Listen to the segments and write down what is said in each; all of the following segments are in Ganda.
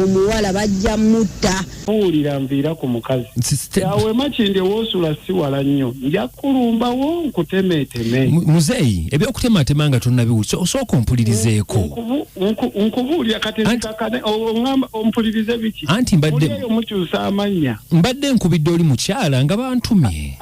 omuwala bajja mutta muwulira nviira ku mukazi yawe makindi ewosula siwala nnyo nja kulumbawo nkutemeeteme muzeeyi ebyokutematema nga tonabiwuli osooka ompulirizeeko nkubuulira kati zikakane oamba ompulirize biki anti mbaddeyo mukyusa amannya mbadde nkubidde oli mukyala nga bantumye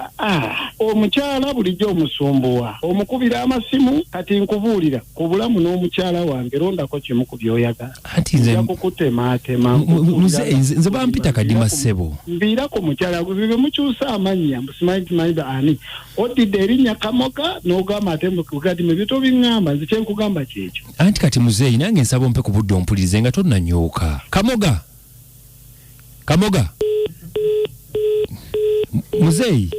omukyala bulijjo omusumbuwa omukubira amasimu kati nkubuulira ku bulamu n'omukyala wange londako kimu ku byoyagala anti nze kukutemaatema muzeeyi nze bampita kadima ssebo mbiira ku mukyala bwe mukyusa amannya mbusimanyi timanyiba ani oddidde erinnya kamoga n'ogamba ate mugati mu bito biŋŋamba nze kyenkugamba kyekyo anti kati muzeeyi nange nsaba ompe ku budde ompulirize nga tonnanyooka kamoga kamoga muzeeyi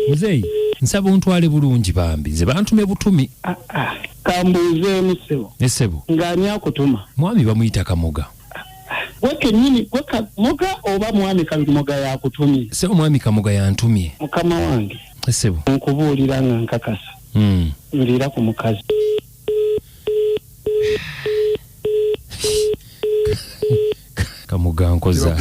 muzeeyi nsaba ontwale bulungi bambi nze bantume butumi ah, ah. kambuuzeemu sebo esebo ng'ani akutuma mwami bamuyita kamoga gwe kenyini gwe kamoga oba mwami kamoga yakutumye se omwami kamoga yantumye mukama wange sebo nkubuulira nga nkakasa mm. nviira ku mukazi kamoga nkoza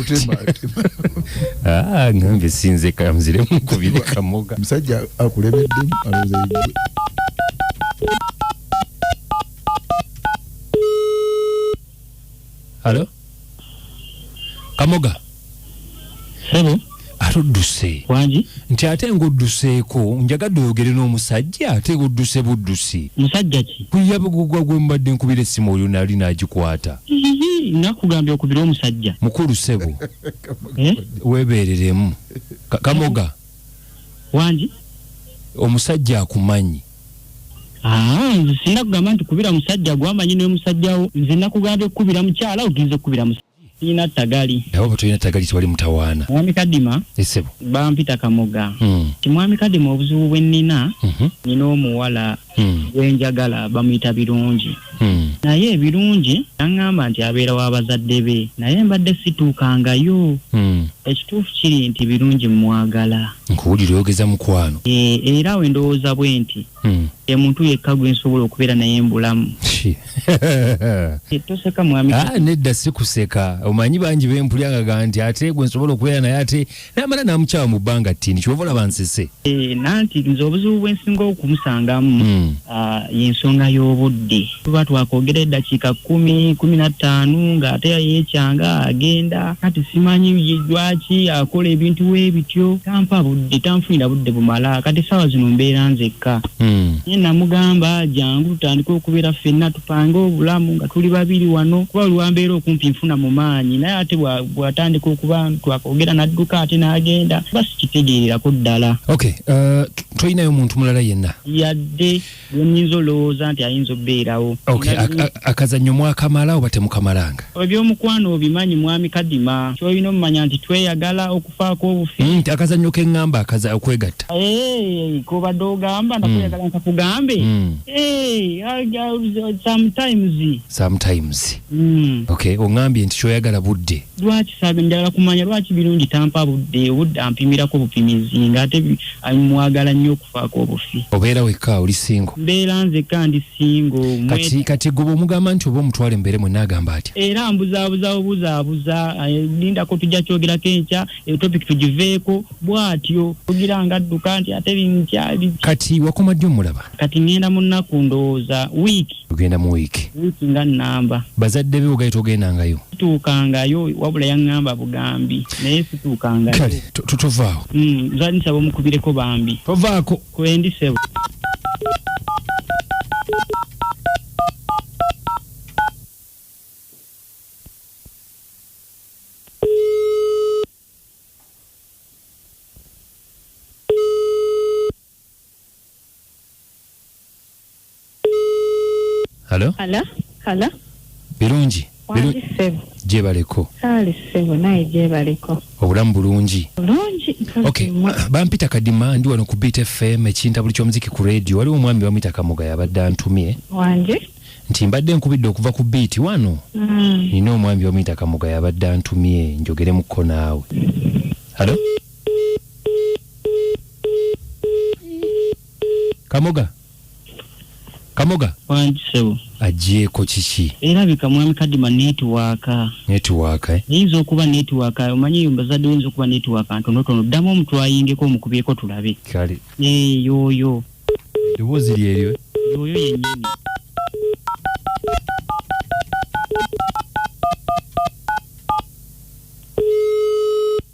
ah, ngambe sinze kamzire mukubire kamoga musajja akulebeddemu alowooza yegwe halo kamoga sebo ate odduse wangi nti ate ng'odduseeko njagadde oyogere n'omusajja ate odduse buddusi musajja ki kuyabugugwa gwe mubadde nkubira essimu oyo nali n'agikwata nakugambye okubira omusajja mukulu sebo eh? weebeereremu kamoga wangi omusajja akumanyi Ah, nze sinna kugamba nti kubira musajja gwamanyi ne musajja wo nze nakugambye kukubira mukyala ogenze kukubira musajja tulina tagali nawe bwetulina tagali tewali mutawaana mwami kadima esebo bampita kamoga hmm. ti mwami kadima obuzibu bwe nnina mhm. nina omuwala hmm. gwenjagala bamuyita birungi hmm. naye ebirungi naŋŋamba nti abeera w'abazadde be naye mbadde situukangayo ekituufu kiri nti birungi mwagala nkuwulira oyogeza mukwano e, era we ndowooza bwe nti hmm. emuntu yekka gwe nsobola okubeera naye mbulamu toseka mwami ah, nedda sikuseka omanyi bangi bempulyagaga nti ate gwe nsobola okubeera naye ate namala namukyawa mu bbanga ttini kyoba olaba nsese e, nanti nze obuzibu bwensinga okumusangamu hmm. ah, yensonga y'obudde tuba twakwogera eddakiika kumi kumi na ttaano ng'ate yeekyanga agenda kati simanyi lwaki akola ebintu we bityo tampa budde tanfunira budde bumala kati essaawa zino mbeera nzekka hmm. naye namugamba jangu tutandike okubeera ffenna tupange obulamu nga tuli babiri wano kuba lwambeera okumpi nfuna mu maanyi naye ate bw'atandika okuba twakwogera n'adduka ate n'agenda ba sikitegeererako ddala uh, tolinayo muntu mulala yenna yadde bwenyinza olowooza nti ayinza obbeerawo okay akazanyo mwakamala oba temukamalanga ebyomukwano obimanyi mwami kadima kyoyina omumanya nti tweyagala okufaako obufi mm, akazanyo kengamba akaza okwegatta eh, kobadde ogamba nakweyagala mm. nkakugambe mm. eh, sometimes sometimes okay ongambye nti kyoyagala budde Lwaki saga njagala kumanya lwaki birungi tampa budde obudde ampimirako bupimizi nga ate mwagala nnyo okufaako obufi. Obeera wekka oli single? Mbeera nzekka ndi single. Kati kati gwe bwomugamba nti oba omutwale mubeere mwenna agamba atya? Era ambuzaabuza bubuzaabuza eh, lindako tujja kyogerako enkya eyo eh, topic tugiveeko bwatyo tugira nga adduka nti ate binkya. Kati wakoma ddi omulaba? Kati ngenda mu nnaku ndowooza wiiki. ogenda mu wiiki wiiki nga nnamba bazadde be ogaye togendangayo tuukangayo wabula yaŋŋamba bugambi naye situukangayo kale tovaawo mm, zali nsaba omukubireko bambi tovaako kwendi sebo halo Hala, hala. birungi Biru- Wangi ssebo. gyebaleko Saali ssebo naye gyebaliko. obulamu bulungi Bulungi nkazi okay mmwe. bampita kadima ndi wano ku beat fm ekinta buli kyomuziki ku radio waliwo omwami bamwita kamoga yabadde antumye Wangi. nti mbadde nkubidde okuva ku beat wano Mm. nina omwami bamwita kamoga yabadde antumye njogeremu ko naawe halo kamoga kamoga wangi sebo agyeko kiki erabika mwami kadima netiwaaka netiwaaka eh? eyinza okuba netiwaaka omanyi eyo mbazadde oyinza okuba netiwaaka ntonotono ddamu omutu ayingeko omukubyeko tulabe kale eh, yoyo eddoboozi lyeryo eh? yoyo yenyini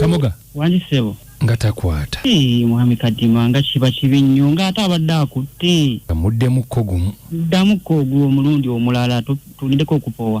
kamoga wali sebo nga takwata Ee, mwami kadima nga kiba kibi nnyo ng'ate abadde akutte amuddemukko gumu ddamuko ogwo omulundi omulala tu- tulindeko okupowa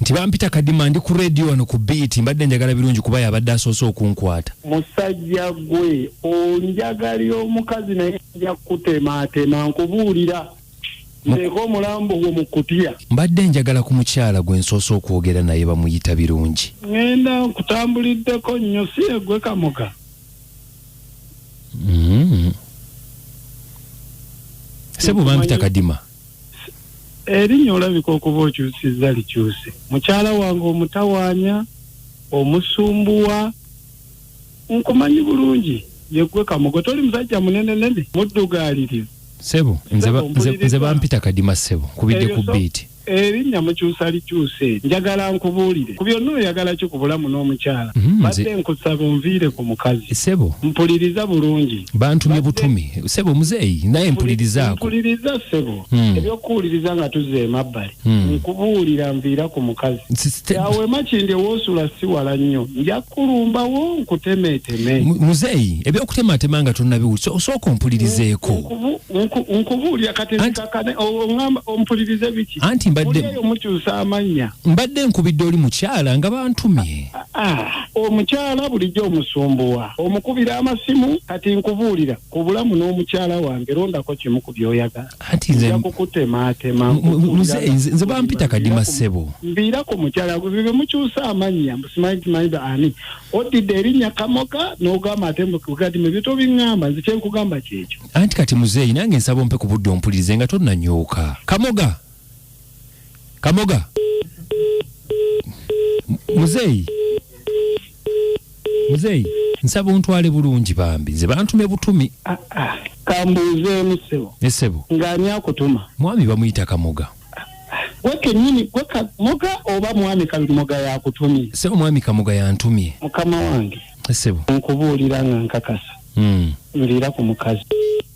nti bampita kadima ndi ku radio wano ku beat mbadde njagala birungi kuba yabadde asoose okunkwata musajja gwe onjagalira omukazi naye nja kutemaatema nkubuulira nteeka omulambo gwo mu kutya mbadde njagala ku mukyala gwe nsoose okwogera naye bamuyita birungi ŋenda nkutambuliddeko nnyo si egwe kamoga mm. sebo bampita kadima erinya olabika okuba okyusiza likyuse mukyala wange omutawanya omusumbuwa nkumanyi bulungi yegwe kamogo toli musajja munene nene muddugaliriza sebo nze bampita kadima sebo kubidde ku biiti erinnya mukyusa likyuse njagala nkubuulire ku byonna oyagala ki ku bulamu n'omukyala mhm, badde nkusaba onviire ku mukazi sebo mpuliriza bulungi bantumye butumi sebo muzeeyi naye mpulirizaako mpuliriza sebo hmm. ebyokuwuliriza nga tuze emabbali hmm. nkubuulira nviira ku mukazi awe makindi woosula si wala nnyo nja kulumbawo nkutemeeteme muzeeyi ebyokutematema nga tonabiwuli osooka ompulirizeeko nkubuulira kati zikakane oamba ompulirize biki anti mbadde mukyusa amannya mbadde nkubidde oli mukyala nga bantumye ah, ah, Ah, omukyala bulijjo omusumbuwa omukubira amasimu kati nkubuulira ku bulamu n'omukyala wange londako kimu ku byoyagala anti nze nja kukutemaatema mu- mu- mu- nze- nze nze bampita kadima ssebo mbiira ku mukyala gwe bye mukyusa amannya mbusimanyi timanyi ba ani oddidde erinnya kamoga n'ogamba ate mugadima ebyo tobiŋŋamba nze kyenkugamba kyekyo anti kati muzeeyi nange nsaba ompe ku budde ompulirize nga tonnanyooka kamoga Kamoga. Muzeyi. Muzeyi. Nsaba ontwale bulungi bambi. Nze bantume butumi. Ah, ah. Kambuze musebo. Nesebo. Ngani akutuma. Mwami bamuyita Kamoga. Gwe kenyini gwe Kamoga oba mwami Kamoga yakutumye. Sebo mwami Kamoga yantumye. Mukama wange. Nesebo. Nkubuulira nga nkakasa. Mm. Ndira ku mukazi.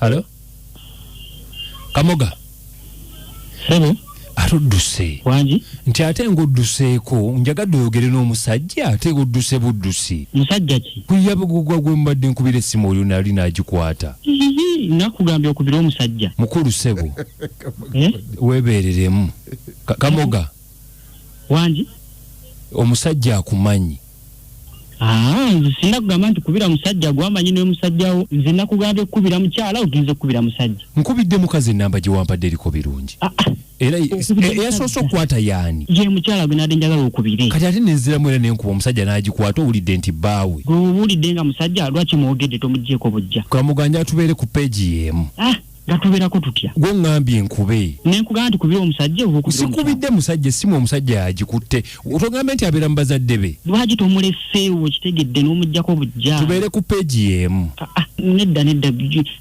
halo kamoga sebo ate odduse wangi nti ate ngaodduseeko njagadde oyogere n'omusajja ate odduse buddusi musajja ki kuyabugugwa gwe mubadde nkubira essimu oyo nali nagikwata nakugambye okubira omusajja mukulu sebo eh? webeereremu kamoga wangi omusajja akumanyi ah, nze sinna kugamba nti kubira musajja gwamanyi noyo musajjawo nze nakugambye kukubira mukyala ogenze kukubira musajja nkubidde mukazi enamba gyewampadde eriko birungi ah, ah. era eyasoose okukwata yaani ye mukyala gwe nade njagala okubire kati ate nenziramu era nenkuba omusajja n'agikwata owulidde nti bbaawe gwe owulidde nga musajja lwaki mwogedde tomugyeko bujja kamuganja atubeere ku peegi yeemu gatuberako tutya gwe ngambye nkube nenkugamba nti kubira omusajja sikubidde musajja esimu omusajja yagikutte otogambye nti abeera mubazadde be lwaki tomuleseewo kitegedde n'omugjako bujja tubeere ku peegi yeemu ah, ah, nedda nedda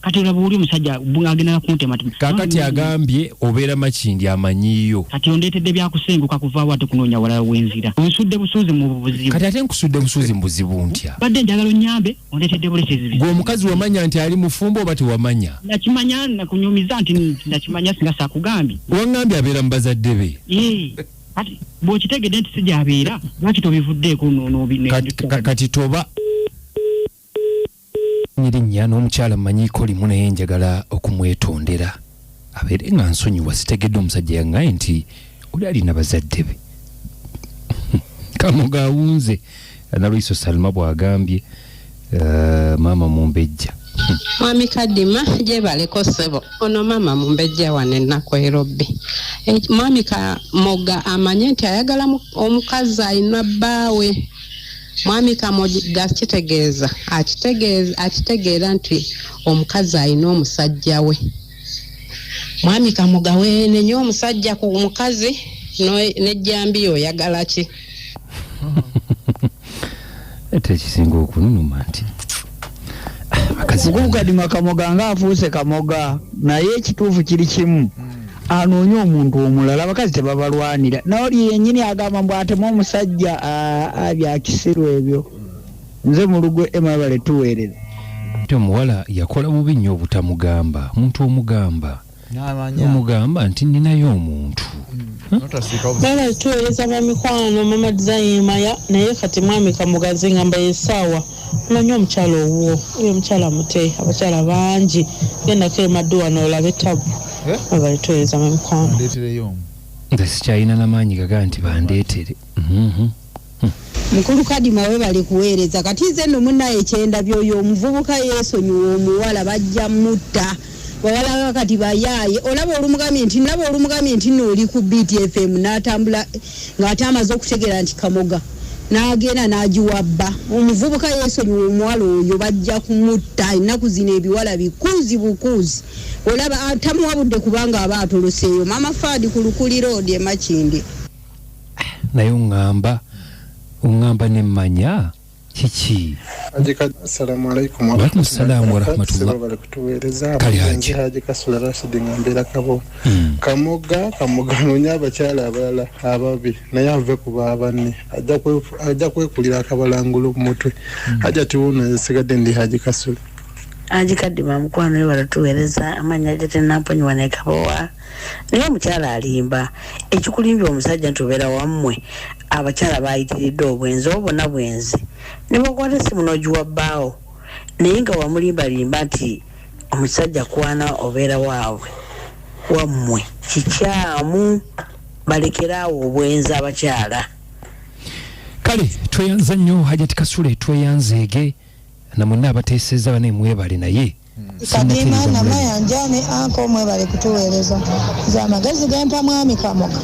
kati olaba oli omusajja agendanga kuntema kakati agambye obeera makindi amanyiyo kati ondeetedde byakusenguka kuvaawo ate kunoonya walala wenzira onsudde busuuzi mu buzibu kati ate nkusudde busuuzi mu buzibu ntya badde njagala onyambe ondeetedde bulesezi gwe omukazi wamanya nti ali mufumbo oba tewamanya nakimanya nakunyumiza nti nakimanya singa sakugambye wangambye abeera mu bazadde be kati bwokitegedde nti sijabeera lwaki tobivuddeeko kati toba nyirinya n'omukyala mumanyiko limu naye njagala okumwetondera abeere nga nsonyiwa sitegedde omusajja yangaye nti oli alina bazadde be kamoga awunze analwiso salma bwagambye uh, maama mumbejja mwami kadima gyebaleko ssebo ono maama mumbejja wano ennaku erobbi eh, mwami kamoga amanye nti ayagala omukazi alina bbaawe mwami kamogi gakitegeeza akitegeeza akitegeera nti omukazi alina omusajja we mwami kamoga weenenye omusajja ku mukazi no- nejjambiya oyagala ki ate ekisinga okununuma nti ah, abakazi gugadima kamoga nga afuuse kamoga naye ekituufu kiri kimu anoonye omuntu omulala abakazi tebabalwanira naoli yenyini agamba mbu atemu omusajja byakisiru ebyo nze mulugwe emabale tuweerere ate omuwala yakola bubi nnyo obutamugamba muntu omugamba omugamba nti ninayo omuntu bala tuweereza bamikwano mama dizayimaya naye kati mwami kamugazi ngamba yesaawa Omanyi omukyala owuwo oyo omukyala mute abakyala bangi gendako emaddu wano olabe tabu webale tuwereza mwe mikwano. Nze sikyalina na maanyi gaga nti bandeetere. Mukulu kadima webale kuwereza kati nze no munaye kyendabye oyo omuvubuka yesonyiwe omuwala bajja mutta. bawala kakati bayaaye olaba olumugambye nti naba olumugambye nti no oli ku btfm natambula ngaate amaze okutegera nti kamoga nagenda nagiwa bba omuvubuka yesonyiwa omuwala oyo bajja kumutta ennaku zino ebiwala bikuuzi bukuuzi olaba ah, tamuwa budde kubanga aba atoloseeyo mama faadi ku lukulira odi emakindi naye oŋamba oŋamba nemmanya kiki Haji Kad- Assalamu alaikum wa Waalaikum salaam wa rahmatullah. Sebo bali kutuweereza Kali Haji. Nze Haji Kasula Rashid nga mbeera kabo Mm. kamoga kamoga nonya abakyala abalala ababi naye ave ku babanne Ajja kwe- ajja kwekulira akabalangulu mu mutwe aja tiwuno nzisigadde ndi Haji Kasula ajikadima mukwano we balatuweereza amannya ge tenamponyiwa nekabowa naye omukyala alimba ekikulimbya omusajja nti obeera wammwe abakyala baayitiridde obwenzi obo bona bwenzi ne bakwata essimu n'ogiwa bbaawo naye nga wamulimbalimba nti omusajja kwana obeera waabwe wammwe kikyamu balekere awo obwenzi abakyala kale tweyanza nnyo hajati kasule tweyanzeege namwenna abateeseza bane mwebale naye Kadima na Mayanja ne Anko mwebale kutuweereza nze amagezi gempa mwami Kamoga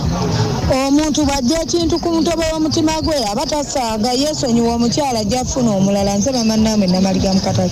omuntu bw'ajja ekintu ku mutobo w'omutima gwe aba tasaaga yeesonyiwa omukyala ajja kufuna omulala nze maama Naomi Namaliga Mukatale